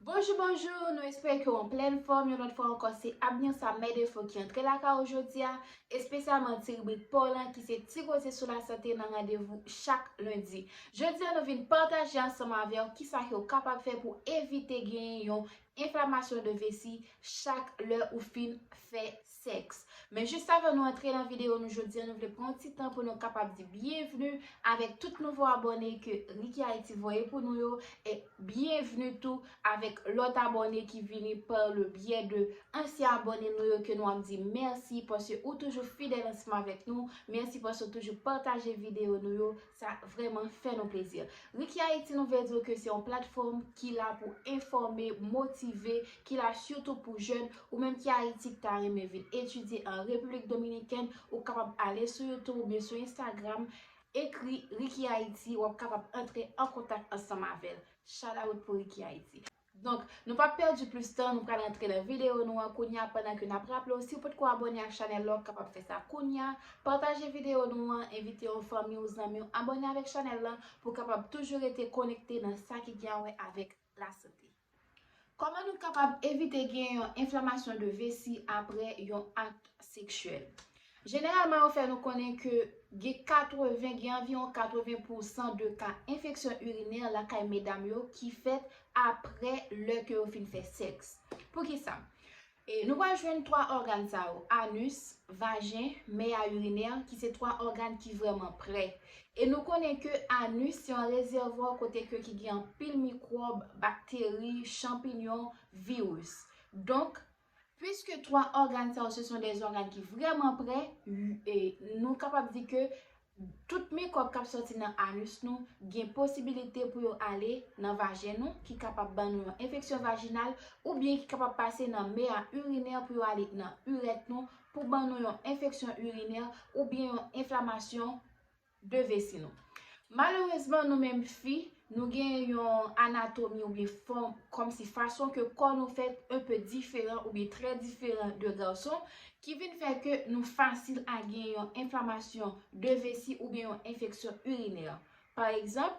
Bonjou bonjou nou espere ke w anplèn fòm yon lòt fwa ankò se Abner sa mè defo ki antre lakay ou jodia espesyalman ti ribrik paw lan ki se ti koze sou lasante nan randevou chak lendi jodia nou vin pataje ansanm avèw kisa ke ou kapab fè pou evite genyen yon enflamasyon de vesi chak lè ou fin fè Sèks. Men jis avan nou antre nan videyo nou jodi an nou vle pran yon ti tan pou nou kapab di byenvni avèk tout nouvo abòne ke Ricky Haiti voye pou nou yo e byenvni tou avèk lòt abòne ki vini par le byè de ansyen abòne nou yo ke nou ap di mèsi paske ou toujou fidèl ansanm avèk nou, mèsi paske ou toujou pataje videyo nou yo Sa vrèman fè nou plezi. Rikiayiti nou vle di w ke se yon platfòm ki la pou enfòme, motive, ki la sitou pou jèn. Ou menm ki Ayiti ki ta renmen vin etidye an Repiblik Dominikèn, ou kapab ale sou YouTube oubyen sou Instagram, ekri Rikiayiti, w ap kapab antre an kontak ansanm avè l. Shout out pou Rikiayiti. Donk, nou pap pèdi plis tan, nou pral antre nan videyo nou an kounya pandan ke nap raple w si w potko abòne ak chanèl la w kapab fè sa kounya, pataje videyo nou an, envite yon fanmi w, zanmi w abòne avèk chanèl la pou w kapab toujou rete konekte nan sa ki gen a wè avèk lasante. Kòman nou kapab evite gen yon enflamasyon de vesi apre yon akt seksyèl? Jeneralman yo fè nou konnen ke gen 80, gen anviwon 80 pou san de ka enfeksyon urinè lakay medam yo ki fèt apre lè ke yo fin fè sèks. Pou ki sa? E nou pral jwenn 3 ògàn sa yo, anus, vajen, meya urinè ki se 3 ògàn ki vrèman prè. E nou konnen ke anus se yon rezèvwa kote ke ki gen anpil mikwòb, bakteri, chanpinyon, viris. Donk, Puiske 3 ògàn sa yo se son de ògàn ki vrèman pre, nou kapab di ke tout mikwòb k ap sòti nan anus nou gen posibilite pou yo ale nan vajen nou ki kapab ban nou yon enfeksyon vajinal oubyen ki kapab pase nan mea urinè pou yo ale nan urèt nou pou ban nou yon enfeksyon urinè oubyen yon enflamasyon 2 vesi nou. Malerezman nou menm fi, nou gen yon anatomi oubyen fòm kòmsi fason ke kò nou fèt un peu diferan oubyen trè diferan de gason ki vin fè ke nou fasil a gen yon enflamasyon de vesi oubyen yon enfeksyon urinè. Pa egzanp,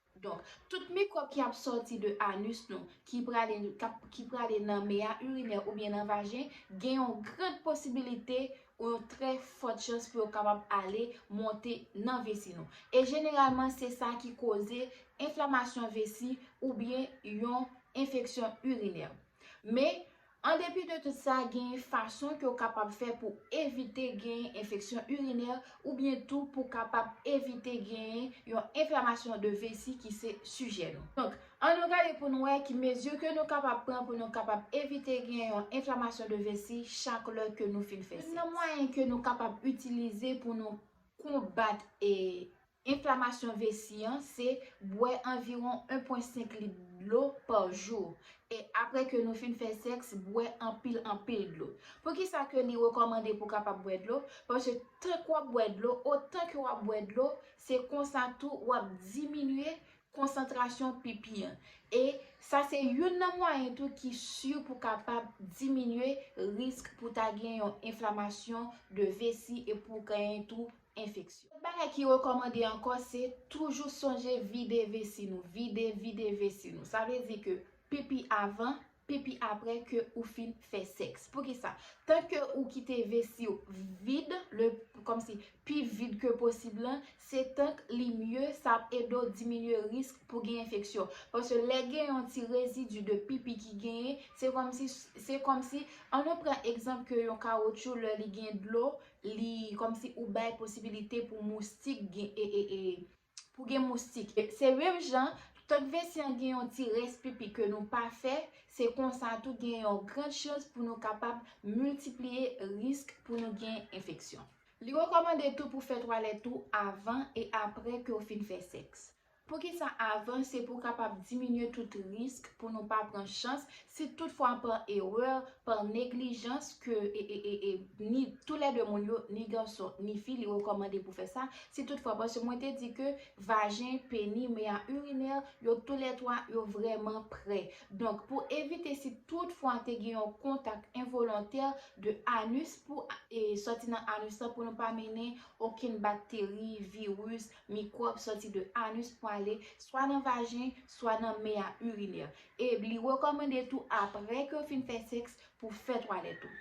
Donk, tout mikwòb ki ap sòti de anus nou, ki prale ki prale nan meya urinè oubyen nan vajen, gen yon grand posibilite ou yon trè fòt chans pou yo kapab ale monte nan vesi nou. E jeneralman se sa ki koze enflamasyon vesi oubyen yon enfeksyon urinè. Men, An depi de tout sa, genyen fason ke w kapab fè pou evite genyen enfeksyon urinè oubyen tou pou kapab evite genyen yon enflamasyon de vesi ki se sijè nou. Donk, an nou gade pou nou wè ki mezi ke nou kapab pran pou nou kapab evite genyen yon enflamasyon de vesi chak lè ke nou fin fè sèks. Youn nan mwayen ke nou kapab itilize pou nou konbat Enflamasyon vesi an se bwè anviwon 1.5 lit dlo pa jou. E apre ke nou fin fè sèks bwè anpil anpil dlo. Poukisa ke li rekòmande pou kapab bwè dlo? Paske tank wap bwè dlo, otan ke wap bwè dlo, se konsa tou wap diminye konsantrasyon pipi an. E sa se youn nan mwayen tou ki si pou kapab diminye risk pou ta gen yon enflamasyon de vesi e pou genyen tou enfeksyon. Lòt bagay ki rekòmande ankò se toujou sonje vide vesi nou, vide, vide vesi nou. Sa vle di ke pipi avan, pipi aprè ke ou fin fè sèks. Pou ki sa? Tan ke ou kite vesi ou vid, le, kòm si, pi vid ke posib lan, se tank li mye, sa ap ede w diminye risk pou gen enfeksyon. Paske lè gen yon ti rezidi de pipi ki genyen, se kòm si, se kòm si, an nou pran egzanp ke yon kawotchou lè li gen dlo, Li komsi ou bay posibilite pou moustik gen ee pou gen moustik. Se menm jan, tank vesi an gen yon ti rès pipi ke nou pa fè, se konsa tou gen yon gran chans pou nou kapab miltipliye risk pou nou gen enfeksyon. Li rekòmande tou pou fè twalèt ou avan e aprè ke ou fin fè sèks. Poukisa avan se pou kapab diminye tout risk pou nou pa pran chans si tout fwa pa erè, pa neglijans ke ni tou lè 2 moun yo ni gason ni fi li rekòmande pou fè sa si tout fwa paske mwen te di ke vajen, peni, meya irinè yo tou lè 3 yo vrèman prè donk pou evite si tout fwa te gen yon kontak envolontè de anus pou sòti nan anus la pou nou pa mennen okenn bakteri, viris, Mikwòb sòti de anus pou ale swa nan vajen, swa nan mea urinaire. E li rekòmande tou aprè ke w fin fè sèks pou w fè twalèt ou.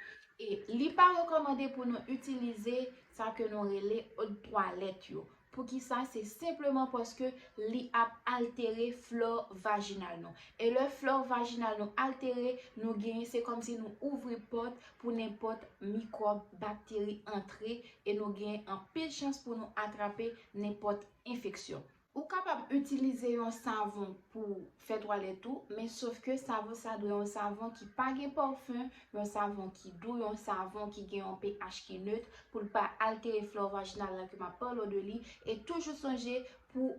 E li pa rekòmande pou nou itilize sa ke nou rele od twalèt yo. Poukisa? Se senpleman paske li ap altere flò vajinal nou. E lè flò vajinal nou altere, nou genyen se kòmsi nou ouvri pòt pou nenpòt mikwòb, bakteri antre e nou gen anpil chans pou nou atrape nenpòt enfeksyon. Ou kapab itilize yon savon pou w fè twalèt ou, men sof ke savon sa dwe yon savon ki pa gen pòfun, yon savon ki dou, yon savon ki gen yon pH ki neut pou l pa altere flore vaginal la ke m ap pale w de li e toujou sonje pou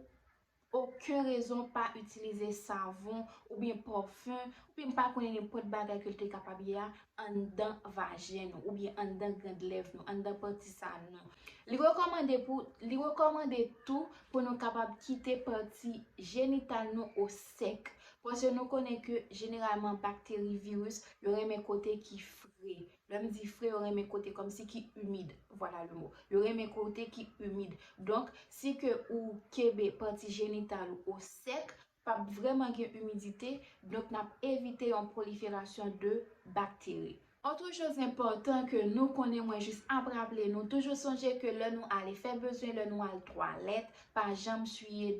Oken rezon pa itilize savon oubyen pòfen oubyen pa konnen nenpòt bagay ke l te kapab ye a anndan vajen nou oubyen anndan grand lèv nou, anndan pati sa nou. Li rekòmande pou li rekòmande tou pou nou kapab kite pati jenital nou o sèk paske nou konnen ke jeneralman bakteri, viris yo renmen kote ki fre. Lè m di fre yo renmen kote kòmsi ki imid, voilà le mot. Yo renmen kote ki imid. Donk, si ke ou kenbe pati jenital ou o sèk, p ap vrèman gen imidite, donk n ap evite yon proliferasyon de bakteri. Otre choz enpòtan ke nou konnen mwen jis ap raple nou, toujou sonje ke lè nou ale fè bezwen, lè nou al twalèt, pa janm siye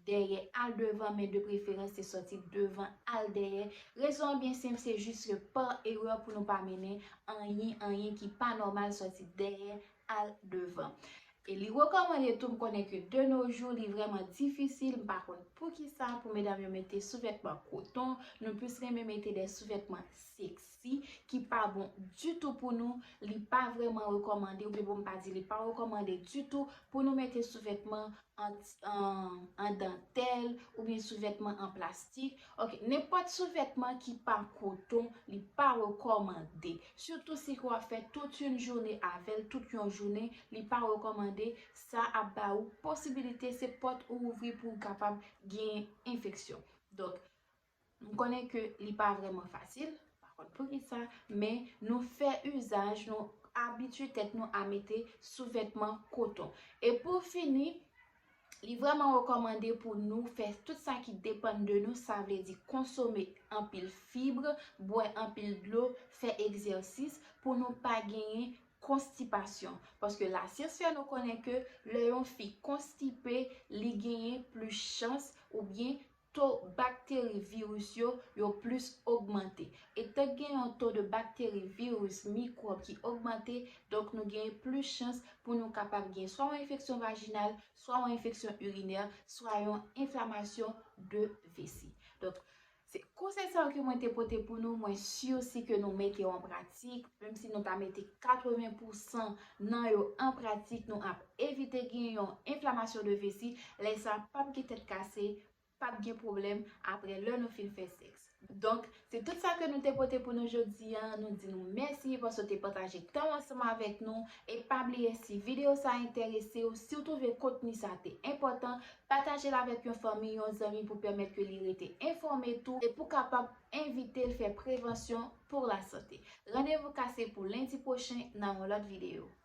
dèyè al devan men de preferans se sòti devan al dèyè rezon an byen senp se jis ke pa erè pou nou pa mennen anyen anyen ki pa nòmal sòti dèyè al devan e li rekòmande tou m konnen ke de no jou li vrèman difisil m pa konn poukisa pou medam yo mete souvètman koton nou plis renmen mete de souvètman sèks. si ki pa bon ditou pou nou, li pa vrèman rekòmande oubyen pou m pa di li pa rekòmande ditou pou nou mete souvètman an dantèl oubyen souvètman an plastik, ok nenpòt souvètman ki pa koton li pa rekòmande sitou si ke w ap fè tout yon joune avè l, tout yon jounen li pa rekòmande sa ap ba ou posibilite se pòt ou ouvri pou w kapab genyen enfeksyon donk M konnen ke li pa vrèman fasil, m pa konn poukisa, men nou fè izaj, nou abitye tèt nou a mete souvètman koton. E pou fini, li vrèman rekòmande pou nou fè tout sa ki depann de nou, sa vle di konsome anpil fib, bwè anpil dlo, fè egzèsis pou nou pa genyen konstipasyon. Paske lasyans fè nou konnen ke lè yon fi konstipe, li genyen plis chans oubyen to bakteri viris yo, yo plis ogmante. Etan k gen yon to de bakteri viris mikwòb ki ogmante, donk nou genyen plis chans pou nou kapab gen swa yon enfeksyon vajinal, swa yon enfeksyon irinè, swa yon enflamasyon de vesi. Donk, se konsèy sa yo ke mwen te pote pou nou, mwen si osi ke nou mete yo an pratik, menm si nou ta mete 80 pousan nan yo an pratik, nou ap evite gen yon enflamasyon de vesi, lè sa pap gen tèt kase, pap gen pwoblèm aprè lè nou fin fè sèks. Donk, se tout sa ke nou te pote pou nou jodi a, nou di nou mèsi paske w te pataje tan w ansanm avèk nou, e pa bliye si videyo sa enterese w, si w twouve kontni sa te enpòtan, pataje l avèk yon fanmi, yon zanmi pou pèmèt ke li rete enfòme tou, e pou kapab envite l fè prevansyon pou lasante. Randevou kase pou lendi pwochen nan yon lòt videyo. Babay!